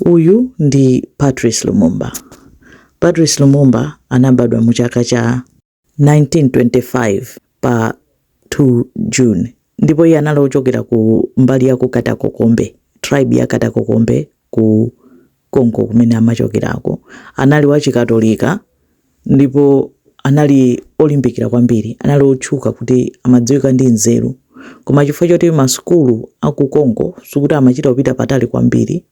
Uyu ndi Patrice Lumumba. Patrice Lumumba anabadwa mu chaka cha 1925 pa 2 July ndipo iye anali ochokera ku mbali ya ku Katakokombe, tribe ya Katakokombe ku Congo kumene amachokerako. Anali wachikatolika ndipo anali olimbikira kwambiri. Anali otchuka kuti amadziwika ndi nzeru. Koma chifukwa choti masukulu a ku Congo sikuti amachita kupita patali kwambiri,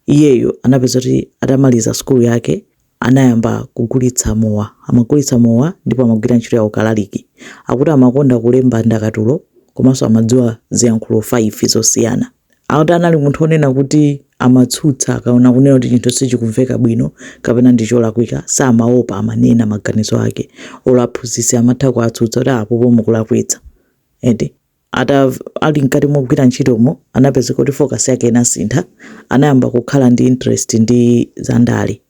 iyeyu anapezeka kuti atamaliza sukulu yake anayamba kugulitsa mowa. Amagulitsa mowa ndipo amagwira ntchito ya ukalaliki. Akuti amakonda kulemba ndakatulo komanso amadziwa ziyankhulo 5 zosiyana. Akuti anali munthu onena kuti amatsutsa akaona kunena kuti chinthu sichikumveka bwino kapena ndi cholakwika samaopa amanena maganizo ake olo aphunzitsi amatha kuwatsutsa kuti apopo mukulakwitsa ndiye atakhala mkati mogwira ntchitomo anapezeka kuti focus yake inasintha anayamba kukhala ndi interest ndi zandale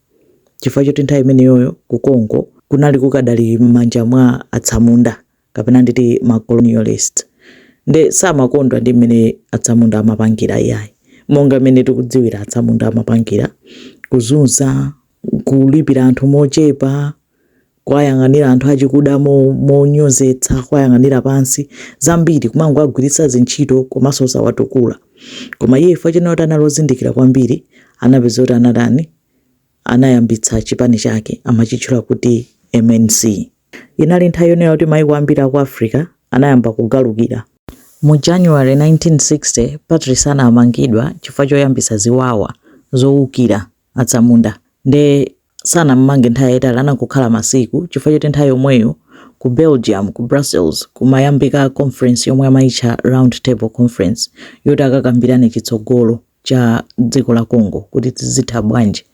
chifukwa choti nthawi imeneyoyo ku Congo kunali kukadali m'manja mwa atsamunda kapena nditi ma colonialist nde samakondwa ndi mmene atsamunda amapangira iyayi monga mmene tikudziwira atsamunda amapangira kuzunza kulipira anthu mochepa kuwayang'anira anthu achikuda monyozetsa kuwayang'anira pansi zambiri kumangowagwiritsa zintchito komanso osawatukula koma iye chifukwa choti anali ozindikira kwambiri anapezeka kuti anatani anayambitsa chipani chake amachitchula kuti MNC. Inali nthawi yonena kuti maiko ambiri a ku Africa anayamba kugalukira. Mu January 1960, Patrice anamangidwa chifukwa choyambitsa ziwawa zoukira atsamunda. Nde sanam'mange nthawi yaitali, anangokhala masiku chifukwa choti nthawi yomweyo ku Belgium, ku Brussels, kumayambika conference yomwe amaitcha Round Table Conference yoti akakambirane chitsogolo. cha dziko la Congo kuti izitha bwanji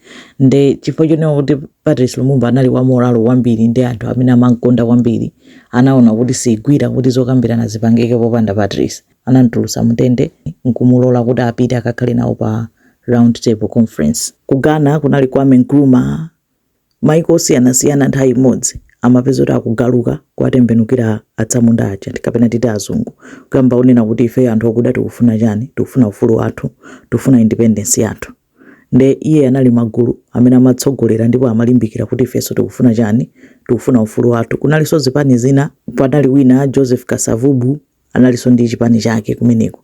nde chifukwa chonena kuti Patrice Lumumba anali wa moralo kwambiri ndi anthu amene amamkonda kwambiri anaona kuti sigwira kuti zokambirana zipangike popanda Patrice anamtulutsa mundende nkumulola kuti apite akakhale nawo pa round table conference ku Ghana kunali Kwame Nkrumah maiko osiyanasiyana nthawi imodzi amapezeka kuti akugaluka kuwatembenukira atsamunda aja ndi- kapena titi azungu kuyamba kunena kuti ifeyo anthu okuda tikufuna chani tikufuna ufulu wathu tikufuna independence yathu nde iye anali magulu amene amatsogolera ndipo amalimbikira kuti ifenso tikufuna chani tikufuna ufulu wathu kunalinso zipani zina panali wina joseph kasavubu analinso ndi chipani chake kumeneko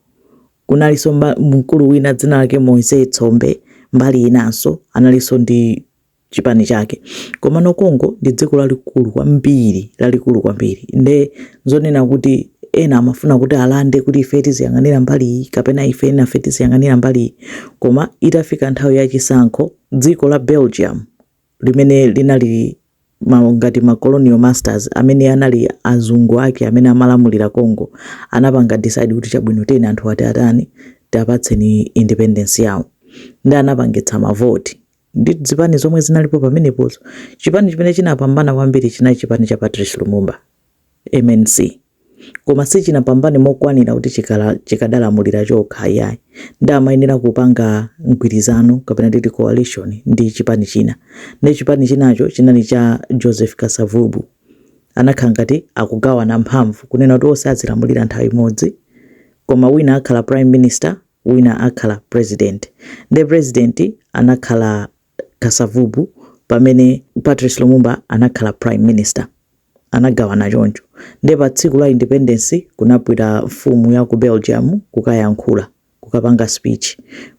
Kunalinso mkulu wina dzina lake Moise Tshombe mbali inanso analinso ndi chipani chake komano Congo ndi dziko lalikulu kwambiri lalikulu kwambiri nde zonena kuti ena amafuna kuti alande kuti ife tiziyang'anira mbali iyi kapena ife enafe tiziyang'anira mbali iyi koma itafika nthawi ya chisankho dziko la Belgium limene linali ngati ma colonial masters amene anali azungu ake amene amalamulira Congo anapanga decide kuti chabwino tiyeni anthuwa tiatani tiwapatse independence yawo nde anapangitsa ma vote nde zipani zomwe zinalipo pamenepozo chipani chimene chinapambana kwambiri chinali chipani cha Patrice Lumumba MNC koma sichinapambane mokwanira kuti chikala chikadalamulira chokha ayi nde amayenera kupanga mgwirizano kapena titi coalition ndi chipani china nde chipani chinacho chinali cha Joseph Kasavubu anakhala ngati akugawana mphamvu kunena kuti onse azilamulira nthawi imodzi koma wina akhala prime minister wina akhala president nde president anakhala Kasavubu pamene Patrice Lumumba anakhala prime minister anagawana choncho nde pa tsiku la independence kunabwera mfumu ya ku Belgium kukayankhula kukapanga speech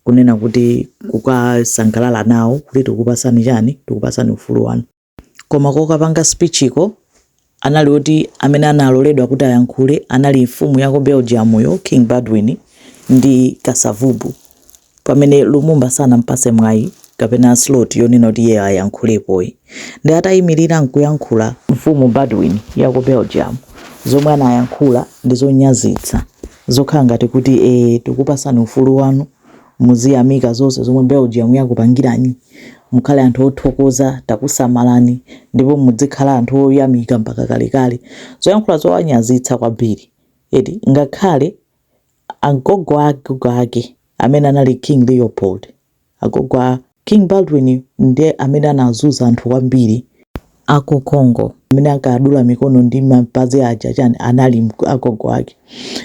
kunena kuti kukasangalala nawo kuti tikukupasani chani tikukupasani ufulu wanu Koma kokapanga speechiko anali oti amene analoledwa kuti ayankhule anali mfumu ya ku Belgiumyo King Baudouin ndi Kasavubu pamene Lumumba sanampase mwayi kapena slot yonena kuti iyeyo ayankhulepo ayi nde atayimirira nkuyankhula mfumu Baudouin ya ku Belgium zomwe anayankhula ndi zonyazitsa zokhala ngati kuti ee tikukupasani ufulu wanu muziyamika zonse zomwe Belgium yakupangirani, mukhale anthu othokoza, takusamalani ndipo mudzikhala anthu oyamika mpaka kalekale. Zoyankhula zowanyazitsa kwambiri eti, ngakhale agogo a agogo ake amene anali King Leopold, agogo a. King Baudouin ndi amene anazuza anthu kwambiri aku Congo amene ankadula mikono ndi mapazi aja chani anali agogo ake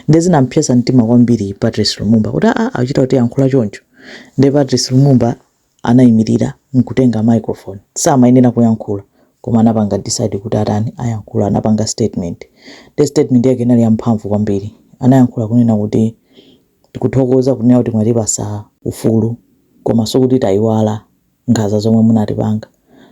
nde zinampsetsa mtima kwambiri Patrice Lumumba kuti aa akuchita kutiyankhula choncho nde Patrice Lumumba anayimilira nkutenga microphone samayenera kuyankhula koma anapanga decide kuti atani ayankhula anapanga statement nde statement yake inali yamphamvu kwambiri anayankhula kunena kuti Tikuthokoza kunena kuti mwatipasa ufulu koma sikuti tayiwala nkhanza zomwe munatipanga.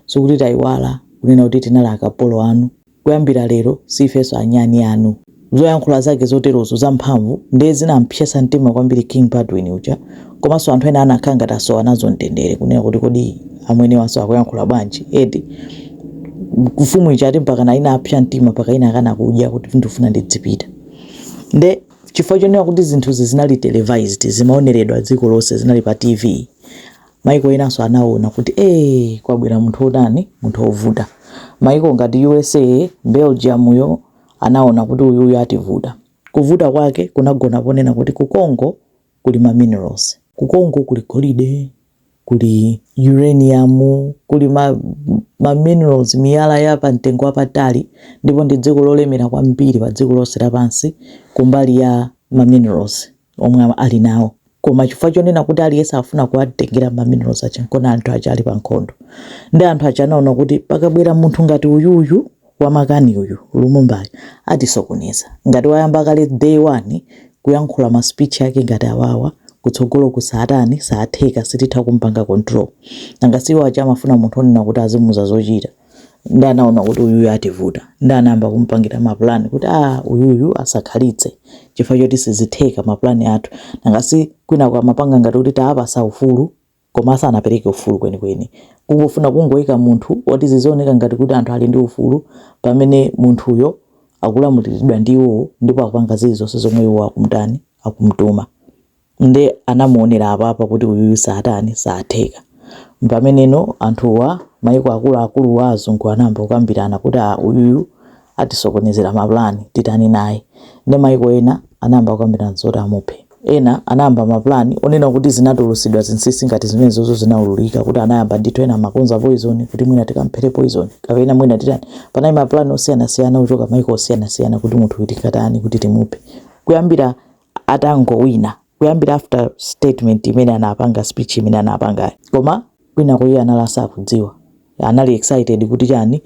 Sikuti tayiwala kunena kuti tinali akapolo anu. Kuyambira lero siifenso anyani anu. Zoyankhula zake zoterozo zamphamvu ndiye zinampsetsa mtima kwambiri King Baudouin uja komanso anthu ena anakhala ngati asowa nazo mtendere kunena kuti kodi amenewanso akuyankhula bwanji eti. Mfumu ija ati mpakana inapsa mtima mpaka inakana kudya kuti ndikufuna ndidzipita. Nde. chifukwa chonena kuti zinthuzi zinali televised zimaoneredwa dziko lonse zinali pa TV maiko enanso anaona kuti ee kwabwera munthu otani munthu ovuta maiko ngati USA Belgiumyo anaona kuti uyuyu ativuta kuvuta kwake kunagona ponena kuti ku Congo kuli ma minerals. Ku Congo kuli golide, kuli uranium, kuli ma, ma minerals, miyala ya pa mtengo wapatali, ndipo ndi dziko lolemera kwambiri pa dziko lonse lapansi kumbali ya ma minerals omwe ali nawo. Koma chifukwa chonena kuti aliyense akufuna kuwatengera ma minerals aja, n'chifukwa anthu aja ali pa nkhondo. Nde anthu aja anaona kuti pakabwera munthu ngati uyuyu, wamakani uyu Lumumbayu atisokoneza ngati wayamba kale day one kuyankhula ma speech ake ngati awawa kutsogoloku satani satheka sititha kumpanga control nanga si iwo aja amafuna munthu onena kuti azimuza zochita nde anaona kuti uyuyu ativuta nde anayamba kumpangira mapulani kuti a uyuyu asakhalitse chifukwa choti sizitheka mapulani athu nanga si kwinako amapanga ngati kuti taapasa ufulu koma sanapereke ufulu kwenikweni. Kungofuna kungoika munthu woti zizioneka ngati kuti anthu ali ndi ufulu pamene munthuyo akulamuliridwa ndi iwowo ndipo akupanga zilizonse zomwe iwo akumtani akumtuma nde anamuonera apapa kuti uyuyu satani satheka mpameneno anthuwa maiko akuluakuluwa azungu anayamba kukambirana kuti a uyuyu atisokonezera ma plan titani naye nde maiko ena anayamba kukambirana zoti amuphe ena anayamba ma plan onena kuti zinatulusidwa zinsisi ngati zimenezozo zinaululika kuti anayamba ndithu ena amakonza poison kuti mwina tikamphere poison kapena mwina titani panali ma plan osiyanasiyana kuchoka maiko osiyanasiyana kuti munthu uyu tikatani kuti timuphe kuyambira atangowina kuyambira after statement imene anapanga speech imene anapangayo koma kwinako iye anali asakudziwa anali excited kuti chani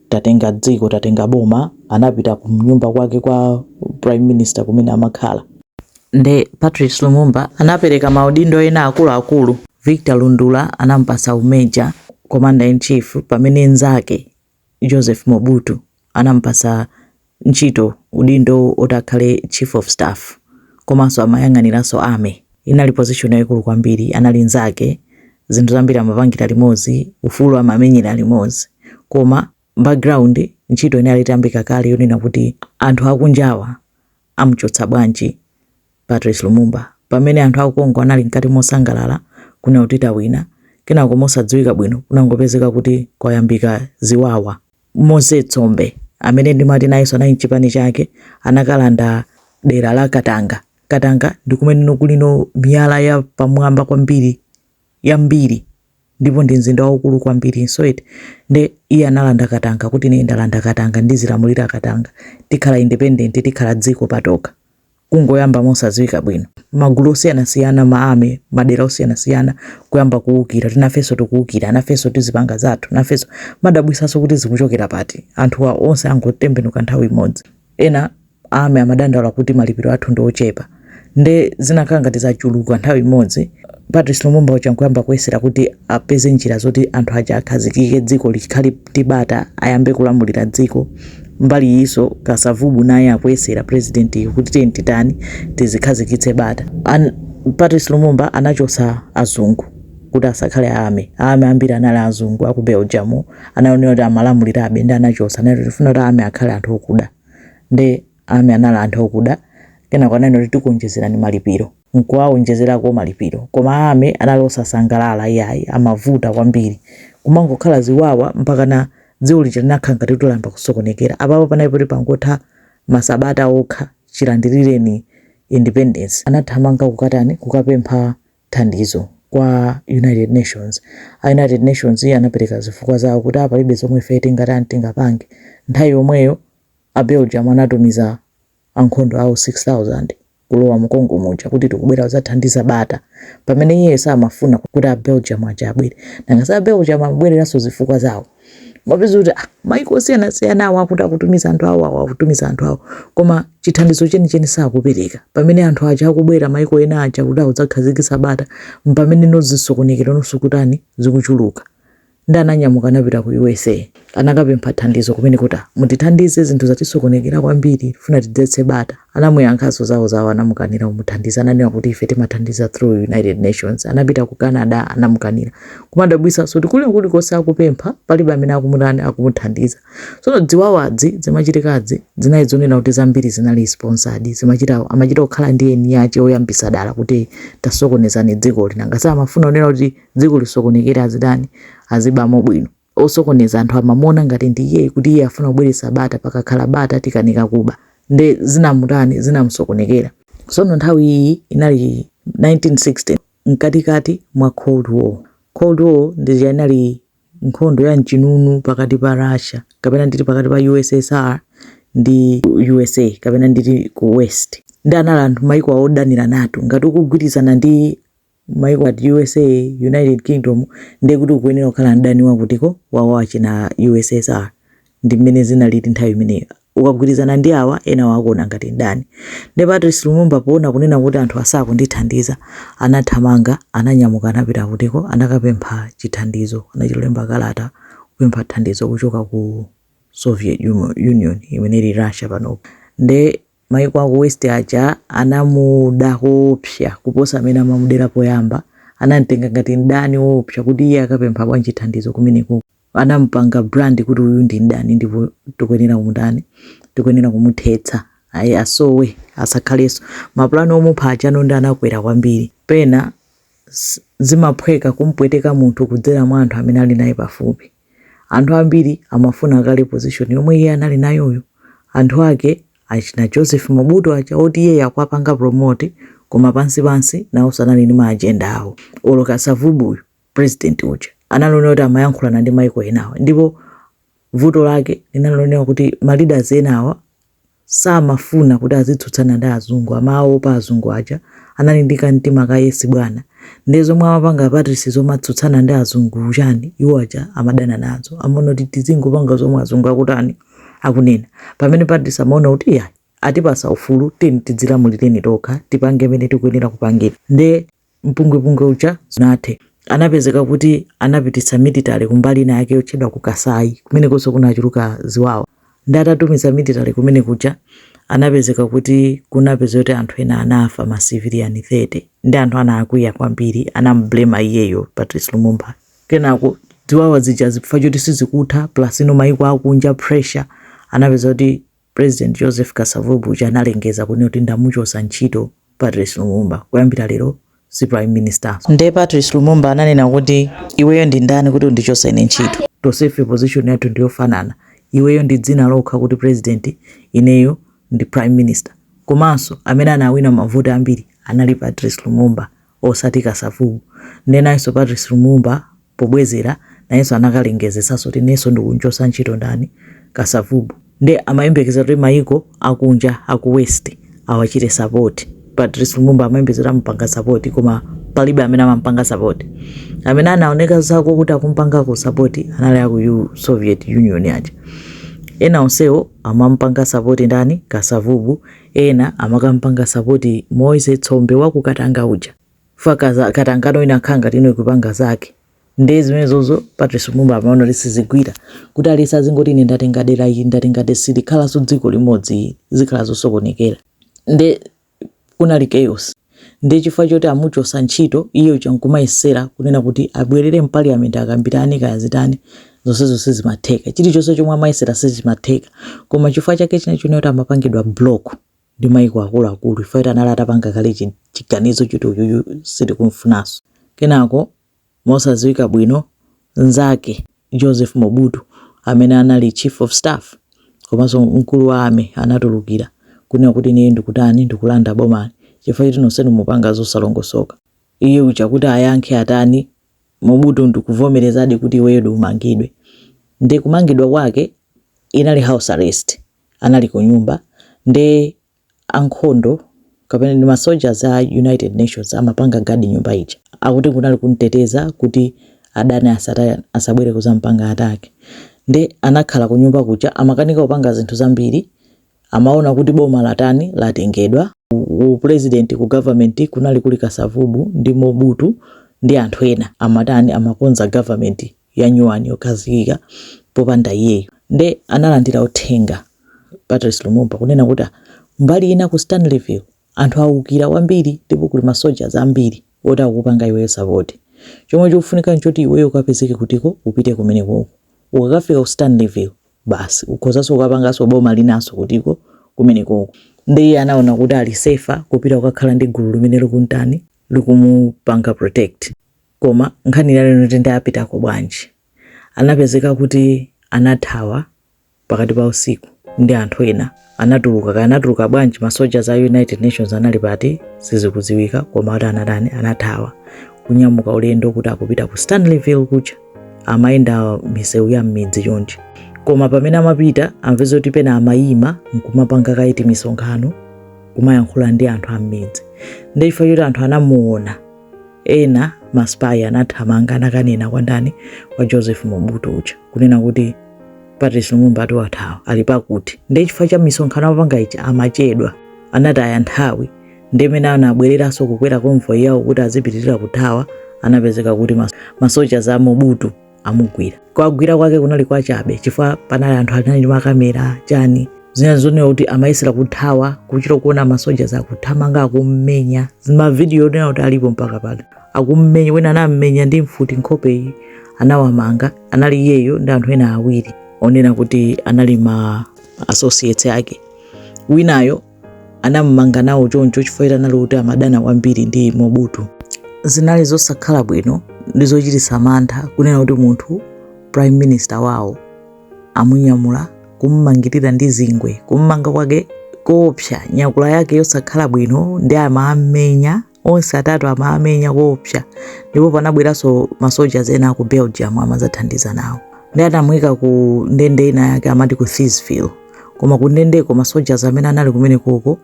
tatenga dziko tatenga boma anapita kunyumba kwake kwa prime minister kumene amakhala nde Patrice Lumumba anapereka maudindo ena akuluakulu Victor Lundula anamupasa u major commander in chief pamene nzake Joseph Mobutu anamupasa ntchito, udindo woti akhale Chief of Staff komanso amayang'aniranso Army. Inali position yaikulu kwambiri, anali nzake, zinthu zambiri amapangira limodzi, ufulu amamenyera limodzi. Koma background ntchito inali itayambika kale yonena kuti anthu akunjawa amuchotse bwanji Patrice Lumumba pamene anthu aku Congo anali mkati mosangalala kunena kuti tawina kenako mosadziwika bwino kunangopezeka kuti kwayambika ziwawa. Moise Tshombe amene ndimati nayenso anali ndi chipani chake anakalanda dera la Katanga. Katanga ndi kumenenso kulinso miyala ya pamwamba kwambiri. yambiri ndipo ndi mzinda waukulu kwambirinso eti nde iye analanda katanga kuti ine ndalanda katanga ndizilamulira katanga tikhala independent tikhala dziko patokha kungoyamba mosadziwika bwino magulu osiyanasiyana ma army madera osiyanasiyana kuyamba kuwukira kuti nafenso tikuwukira nafenso tizipanga zathu nafenso kumadabwisanso kuti zikuchokera pati anthuwa onse angotembenuka nthawi imodzi ena army amadandaula kuti malipiro athu ndi ochepa nde zinakhala ngati zachuluka nthawi imodzi patrice lumumba uja nkuyamba kuyesera kuti apeze njira zoti anthu aja akhazikike dziko likhale ndi bata ayambe kulamulira dziko mbali iyinso kasavubu naye akuyesera president yu kuti tiyeni titani tizikhazikitse bata ah patrice lumumba anachotsa azungu kuti asakhale army army ambiri anali azungu aku belgium anaonera kuti amalamulirabe nde anawachotsa anati tifuna kuti army akhale anthu okuda nde army anali anthu okuda kenako ananena kuti tikuonjezerani malipiro nkuwaonjezerako malipiro koma army anali osasangalala iyayi amavuta kwambiri kumangokhala ziwawa mpakana dziko lija linakhala ngati kuti layamba kusokonekera apapa panali poti pangotha masabata okha chilandilireni independence anathamanga kukatani kukapempha thandizo kwa United Nations. A United Nations anapereka zifukwa zawo kuti a palibe zomwe ife tingatani, tingapange. Nthawi yomweyo a Belgium anatumiza ankhondo awo 6,000 kulowa mu Congo muja kuti tikubwera kudzathandiza bata, pamene iyeyo samafuna kuti a Belgium aja abwere. Nanga si a Belgium amabwereranso zifukwa zawo? kumapezeka kuti ah, maiko osiyanasiyana awo akuti akutumiza anthu awo awo akutumiza anthu awo koma chithandizo chenicheni sakupereka pamene anthu aja akubwera maiko ena aja kuti adzakhazikitse bata mpamene nso zisokonekero zikutani zikuchuluka nde ananyamuka anapita ku usa anakapempha thandizo kumene kuti ah, mutithandize zinthu zatisokonekera kwambiri funa tidzetse bata Anamuyankhanso zawo zawo anamukanira kumuthandiza ananena kuti ife timathandiza through United Nations. Anapita ku Canada anamukanira. Kumadabwisanso kuti kuli kulikonse akupempha palibe amene akumutani akumuthandiza. Tsono ziwawa zimachitikazi zinali zonena kuti zambiri zinali sponsored zimachita amachita kukhala ndi eni ache oyambisa dala kuti tasokonezani dzikoli nanga amafuna kunena kuti dziko lisokonekere azitani azibamo bwino. osokoneza wathu amamuona ngati ndi iyeyi kuti iye afuna kubweretsa bata pakakhala bata tikanika kuba nde zinamutani zinamusokonekera sono nthawi iyi inali 1960 mkatikati mwa cold war cold war ndi ija inali nkhondo ya mchinunu pakati pa russia kapena nditi pakati pa ussr ndi usa kapena nditi ku west nde anali anthu maiko awo odanirana to ngati ukugwirizana ndi maiko ngati usa, united kingdom ndiye kuti ukuyenera kukhala mdani wa kuti ko wa wa china ussr ndi mmene zinalili nthawi imeneyo ukagwirizana ndi awa enawo akuona ngati mdani nde patrice lumumba poona kunena kuti anthu asakundithandiza anathamanga ananyamuka anapita kuti ko anakapempha chithandizo anachilemba kalata kupempha thandizo kuchoka ku soviet Umo- union imene ili russia panopo nde Maiko aku west aja anamuda koopsa kuposa mmene amamudera poyamba, anamtenga ngati mdani oopsa kuti iye akapempha bwanji thandizo kumenekoko. Anamupanga brand kuti uyu ndi mdani ndipo tikuyenera kumutani, tikuyenera kumuthetsa ayi asowe asakhaleso. Ma plan omupha aja ano ndiye anakwera kwambiri. Pena zimaphweka kumpweteka munthu kudzera mwa anthu amene ali naye pafupi. Anthu ambiri amafuna kale position yomwe iye anali nayoyo. Anthu ake achina Joseph Mobutu aja oti iyeyo akuwapanga promote koma pansi pansi nawonso anali ndi ma agenda awo. Olo Kasavubu uyu president uja anali onena kuti amayankhulana ndi maiko enawa ndipo vuto lake linali lonena kuti ma leaders enawa samafuna kuti azitsutsana ndi azungu amawaopa azungu aja anali ndi kamtima ka yesi bwana ndiye zomwe amapanga a Patrice zomatsutsana ndi azungu chani iwo aja amadana nazo amaona kuti tizingopanga zomwe azungu akutani akunena pamene Patrice amaona kuti iyayi atipatsa ufulu tiyeni tidzilamulire tokha tipange mene tikuyenera kupangira nde mpungwepungwe uja sunathe. Anapezeka kuti anapititsa military kumbali ina yake yotchedwa ku Kasai kumenekonso kunachuluka ziwawa. Nde atatumiza military kumene kuja anapezeka kuti kunapeza kuti anthu ena anafa ma civilian 30 nde anthu anakwiya kwambiri anamublamer iyeyo Patrice Lumumba. Kenako ziwawa zija chifukwa choti sizikutha plus no mayiko akunja pressure anapeza kuti President Joseph Kasavubu uja analengeza kunena kuti ndamuchosa ntchito Patrice Lumumba kuyambira lero si prime minister. Nde Patrice Lumumba ananena kuti iweyo ndi ndani kuti undichose ine ntchito? Tonsefe position yathu ndiyofanana iweyo ndi dzina lokha kuti president ineyo ndi prime minister komanso amene anawina mavoti ambiri anali Patrice Lumumba osati Kasavubu. Nde nayenso Patrice Lumumba pobwezera nayenso anakalengezetsanso kuti inenso ndikunchosa ntchito ndani? Kasavubu. Nde amayembekezera kuti mayiko akunja aku west awachite support. Patrice Lumumba amayembekezera kuti amupanga support koma palibe amene amamupanga support. Amene anaoneka zakuti akumupangako support anali aku Soviet Union aja. Ena onsewo amamupanga support ndani? Kasavubu. Ena amakampanga sapoti Moise Tshombe wa ku Katanga uja. Chifukwa Katanga nayo inakhala ngati nayo ikupanga zake. Ndiye zimenezozo Patrice Lumumba amaona kuti sizigwira. Kuti aliyense azingoti ine ndatenga dera ili, ndatenga dera silikhalanso dziko limodzi, zikhala zosokonekera. Nde kunali chaos. Ndiye chifukwa choti amuchotsa ntchito iye uja nkumayesera kunena kuti abwerere m'paliyamenti akambirane kaya zitani zonsezo sizimatheka. Chilichonse chomwe amayesera sichimatheka. Koma chifukwa chake chinali chonena kuti amapangidwa block ndi maiko akuluakulu chifukwa choti anali atapanga kale chi- chiganizo choti uyuyu sitikumfunanso. Kenako mosadziwika bwino mnzake Joseph Mobutu amene anali chief of staff komanso mkulu wa army anatulukira kunena kuti ineyo ndikutani ndikulanda bomali chifukwa choti nonsenu mukupanga zosalongosoka. Iye uja kuti ayankhe atani Mobutu ndikuvomerezadi kuti iweyo umangidwe. Nde kumangidwa kwake inali house arrest, anali kunyumba nde ankhondo kapena ndi ma soldiers a United Nations amapanga guard nyumba ija. Akuti kunali kumteteza kuti adani asatani asabwere kudzampanga attack. Nde anakhala kunyumba kuja amakanika kupanga zinthu zambiri. Amaona kuti boma latani latengedwa. Ku president, ku government kunali kuli Kasavubu ndi Mobutu ndi anthu ena amatani amakonza government. yanyuwani yokhazikika popanda iyeyu nde analandira uthenga Patrice Lumumba kunena kuti mbali ina ku Stanleyville anthu awukira kwambiri ndipo kuli ma soldiers ambiri oti akukupanga iweyo support chomwe chikufunika nchoti iweyo ukapezeke kutiko upite kumenekoko ukakafika ku Stanleyville basi ukhozanso kukapanganso boma linanso kutiko kumenekoko nde iye anaona kuti ali safer kupita kukakhala ndi gulu limene likumutani likumupanga protect. Koma nkhani inali yoti nde apitako bwanji? Anapezeka kuti anathawa pakati pa usiku ndi anthu ena anatuluka kaya anatuluka bwanji ma soldiers a United Nations anali pati sizikudziwika koma kuti anatani anathawa kunyamuka ulendo kuti akupita ku Stanleyville kuja amayenda misewu ya mmidzi chonchi koma pamene amapita amapezeka kuti pena amayima nkumapanga ngati misonkhano kumayankhula ndi anthu ammidzi nde chifukwa choti anthu anamuona ena maspayi anathamanga anakanena kwa ndani kwa joseph mobutu uja kunena kuti patrice lumumba ati wathawa ali pakuti ndiye chifukwa cha misonkhano amapanga ija amachedwa anataya nthawi nde mmene anabwereranso kukwera konvoyi yawo kuti azipitirira kuthawa anapezeka kuti mas- masoja a mobutu amugwira kugwira kwake kunali kwachabe chifukwa panali anthu anali ndi makamera chani zina zooneka kuti amayesera kuthawa kuchita kuona masoja akuthamanga akummenya mavidiyo onena kuti alipo mpaka pano akummenya ena anammenya ndi mfuti nkhope iyi anawamanga anali iyeyo ndi anthu ena awiri onena kuti anali ma associates ake winayo anamumanga nawo choncho chifukwa choti anali kuti amadana kwambiri ndi Mobutu. Zinali zosakhala bwino nde zochititsa mantha kunena kuti munthu prime minister wawo amunyamula kummangirira ndi zingwe, kummanga kwake koopsa, nyakula yake yosakhala bwino nde amammenya onse atatu amawamenya koopsa ndipo panabweranso masojazi ena aku Belgium amadzathandiza nawo nde anamuyika ku ndende ina yake amati ku Thysville koma ku ndendeko masoja amene anali kumenekoko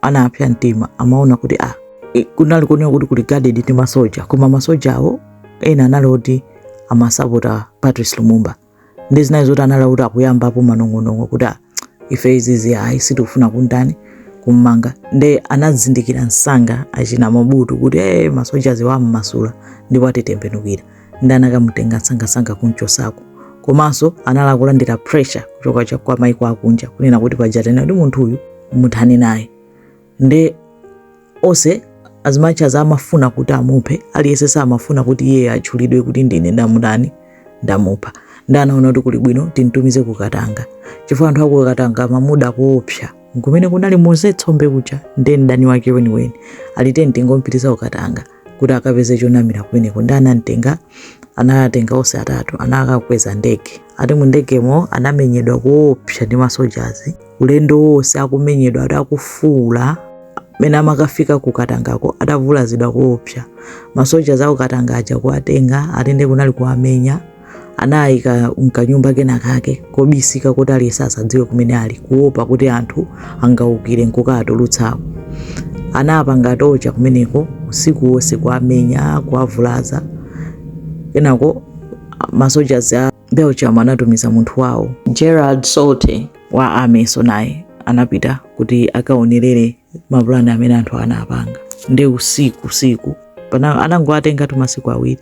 anapsa mtima amaona kuti ah, i- kunali kuoneka kuti kuli guarded ndi masoja koma masojawo ena anali oti amasapota Patrice Lumumba nde zinali zoti anali kuti akuyambapo manong'onong'o kuti "Ah, ife izizi ayi sitikufuna kuntani kummanga nde anazindikira msanga achina Mobutu kuti ee masojazi ammasula ndipo atitembenukira nde anakamutenga msangasanga kunchosako komanso anali akulandira pressure kuchoka cha- kwa maiko akunja kunena kuti paja tanena kuti munthu uyu muthane naye nde onse as much as amafuna kuti amuphe aliyense samafuna kuti iye atchulidwe kuti ndine ndamutani ndamupha nde anaona kuti kuli bwino timtumize ku Katanga chifukwa anthu aku Katanga amamuda koopsa nkumene kunali Moise Tshombe kuja nde mdani wake weniweni ali teni tingompititsa ku Katanga kuti akapeze chonamira kumeneko nde anamtenga anawatenga onse atatu anakawakweza ndege ati mu ndegemo anamenyedwa koopsa ndi masojazi ulendo wonse akumenyedwa ati akufuula mene amakafika ku Katangako atavulazidwa koopsa masojazi aku Katanga aja kuwatenga ati nde kunali kuwamenya anawayika mkanyumba kena kake kobisika kuti aliyense asadziwe kumene ali kuopa kuti anthu angaukire nkukawatulutsako anawapanga torture kumeneko usiku wonse kuwamenya kuwavulaza kenako masojazi a Belgium anatumiza munthu wawo Gerard Soete wa ameso naye anapita kuti akaonerere mapulani amene anthu anapanga nde usiku usiku anangowatengatu masiku awiri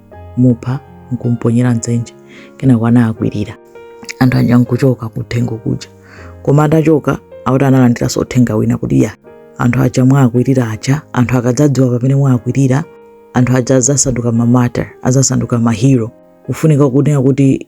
mupha nkumponyera mdzenje kenako anawakwirira anthu aja nkuchoka kuthengo kuja koma atachoka akuti analandiranso uthenga wina kuti ya anthu aja mwawakwirira aja anthu akadzadziwa pamene mwawakwirira anthu aja adzasanduka ma martyr adzasanduka mahero kufunika kunena kuti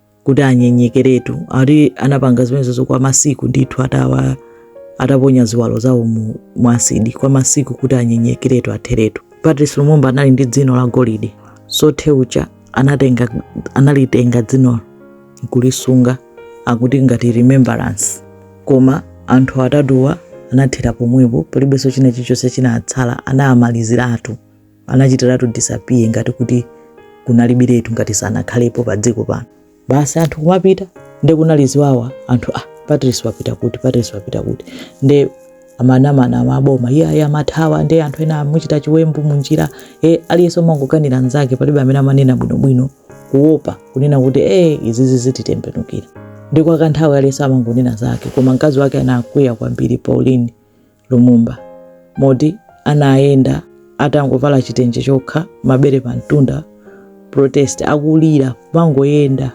kuti anyenyekeretu ati anapanga zimenezozo kwa masiku ndithu atawa ataponya ziwalo zawo mu asidi kwa masiku kuti anyenyekeretu atheretu Patrice Lumumba anali ndi dzino la golide Soete uja anatenga analitenga dzinolo nkulisunga akuti ngati remembrance koma anthu atatuwa anathera pomwepo palibenso china chilichonse chinatsala anamaliziratu anachitiratu disappear ngati kuti kunalibiretu ngati sanakhalepo pa dziko pano basi anthu kumapita nde kunali ziwawa anthu ah Patrice wapita kuti Patrice wapita kuti nde amanamana maboma iyayi amathawa nde anthu ena amuchita chiwembu munjira e aliyense kumangokanira mnzake palibe amene amanena bwinobwino kuopa kunena kuti e izizi zititembenukira ndi kwa kanthawi aliyense amangonena zake koma mkazi wake anakwiya kwambiri Pauline Lumumba, moti anayenda atangovala chitenje chokha, mabere pamtunda, protest, akulira, kumangoyenda,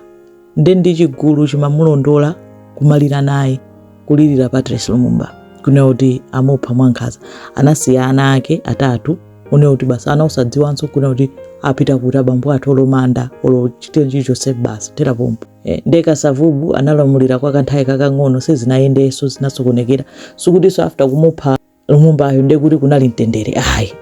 nde ndi chigulu chimamulondola kumalira naye, kulilira Patrice Lumumba, kunena kuti amupha mwankhaza, anasiya ana ake atatu, kunena kuti basi ana osadziwanso, kunena kuti apita kuti abambo athu, olo manda, olo chinthu chilichonse basi kuthera pompo. E, nde Kasavubu analamulira kwa kanthawi kakang'ono sizinayendenso zinasokonekera sikutinso after kumupha Lumumbayo nde kuti kunali mtendere ayi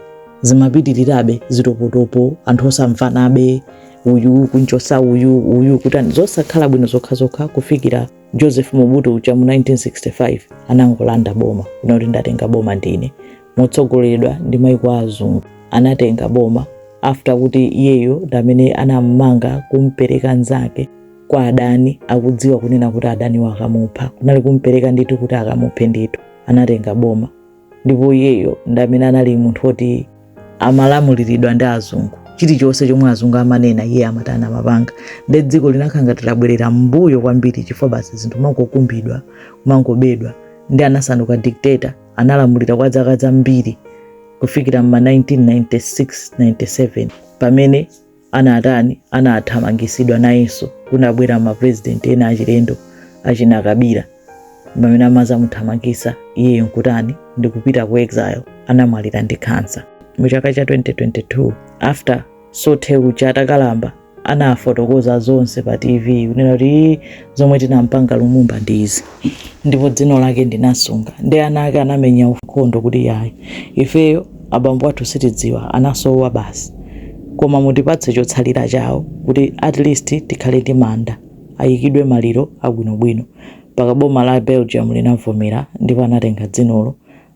zimapitirirabe zitopotopo anthu osamvanabe uyu kunchosa uyu uyu kutani zosakhala bwino zokhazokha kufikira Joseph Mobutu uja mu 1965 anangolanda boma kunena kuti ndatenga boma ndine motsogoleredwa ndi maiko a azungu anatenga boma after kuti iyeyo ndi amene anamumanga kumpereka nzake kwa adani akudziwa kunena kuti adaniwo akamupha kunali kumpereka ndithu kuti akamuphe ndithu anatenga boma ndipo iyeyo ndi amene anali munthu woti amalamuliridwa ndi azungu chilichonse chomwe azungu amanena iye amatani amapanga nde dziko linakhala ngati labwerera m'mbuyo kwambiri chifukwa basi zinthu kumangokumbidwa kumangobedwa nde anasanduka dictator analamulira kwa zaka zambiri kufikira m'ma 1996-97 pamene anatani anathamangisidwa nayenso kunabwera maprezidenti ena achilendo achina Kabila pamene amazamuthamangisa iyeyo nkutani ndikupita ku exile anamwalira ndi khansa mu chaka cha 2022 after Soete uja atakalamba anafotokoza zonse pa TV kunena kuti zomwe tinampanga Lumumba ndi izi ndipo dzino lake ndinasunga ndi ana ake anamenya nkhondo kuti iyayi ifeyo abambo athu sitidziwa anasowa basi koma mutipatse chotsalira chawo kuti at least tikhale ndi manda ayikidwe maliro abwinobwino mpaka boma la Belgium linavomera ndipo anatenga dzinolo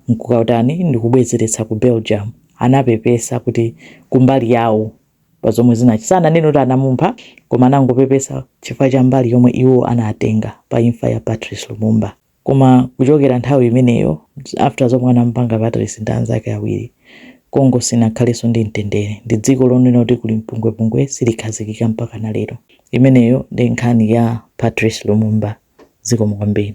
nkukatani ndikubwezeretsa ku Belgium anapepesa kuti kumbali yawo pa zomwe zinach. Sananene kuti anamumpha koma anangopepesa chifukwa cha mbali yomwe iwo anatenga pa imfa ya Patrice Lumumba. Koma kuchokera nthawi imeneyo, after zomwe anamupanga Patrice ndi anzake awiri, Congo sinakhalenso ndi mtendere. Ndi dziko lonena kuti kuli mpungwepungwe silikhazikika mpakana lero. Imeneyo ndi nkhani ya Patrice Lumumba. Zikomo kwambiri.